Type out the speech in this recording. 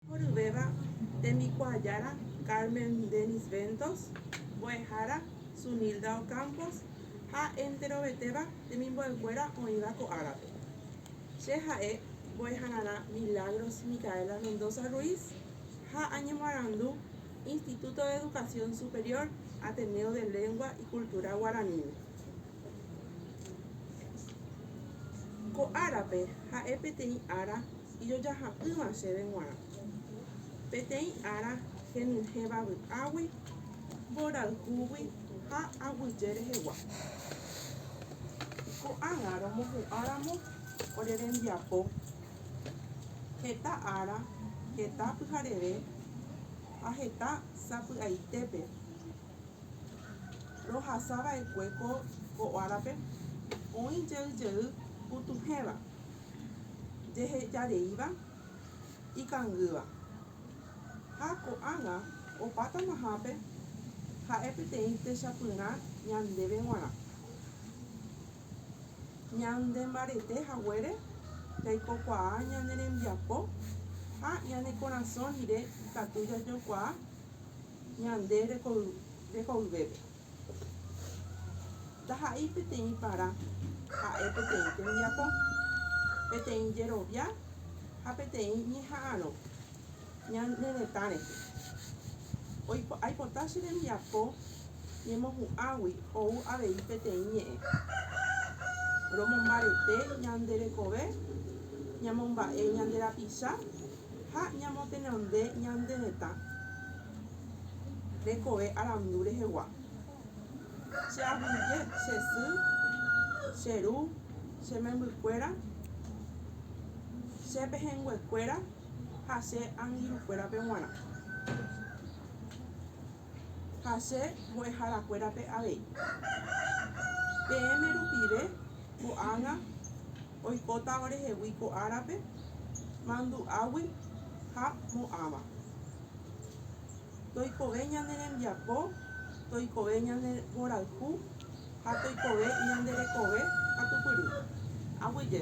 Oryvéva tembikuaa Jára Carmen Dennis Ventos, mbo'ehára Zunilda Ocampos ha enterovetéva temimbo'ekuéra oĩva ko árape. Che ha'e mbo'ehararã Milagros Micaela Mendoza Ruiz ha añemoarandu Instituto de Educación Superior Ateneo de Lengua y Cultura Guaraníme. Ko árape ha'e peteĩ ára ijojaha'ỹva chéve g̃uarã. Peteĩ ára henyhẽva vy'águi, mborayhúgui ha aguyje rehegua. Ko'ág̃a romohu'ãramo ore rembiapo, heta ára, heta pyhareve ha heta sapy'aitépe rohasava'ekue ko árape oĩ jey jey putuhẽva. jehejareíva ikangýva, ha ko'ág̃a opa tamahápe ha'e peteĩ techapyrã ñandéve g̃uarã. Ñande mbarete haguére jaikokuaa ñane rembiapo ha ñane korasõ rire ikatu jajokuaa ñande rekoyvépe. Ndaha'éi peteĩ parã, ha'e peteĩ tembiapo, peteĩ jerovia ha peteĩ ñeha'arõ ñane retã rehe. Aipota che rembiapo ñemohu'ãgui ou avei peteĩ ñe'ẽ romombarete ñande rekove, ñamomba'e ñande rapicha ha ñamotenonde ñande hetã rekove arandu rehegua. Che aguyje, che sy, che ru, che membykuéra, che pehẽnguekuéra ha che angirũkuérape g̃uarã. ha che mbo'eharakuérape avei. Peẽme rupive ko'ág̃a oikóta orehegui ko árape mandu'águi ha mo'ãva. Toikove ñane rembiapo, toikove ñane mborayhu ha toikove ñande rekove katupyry. Aguyje.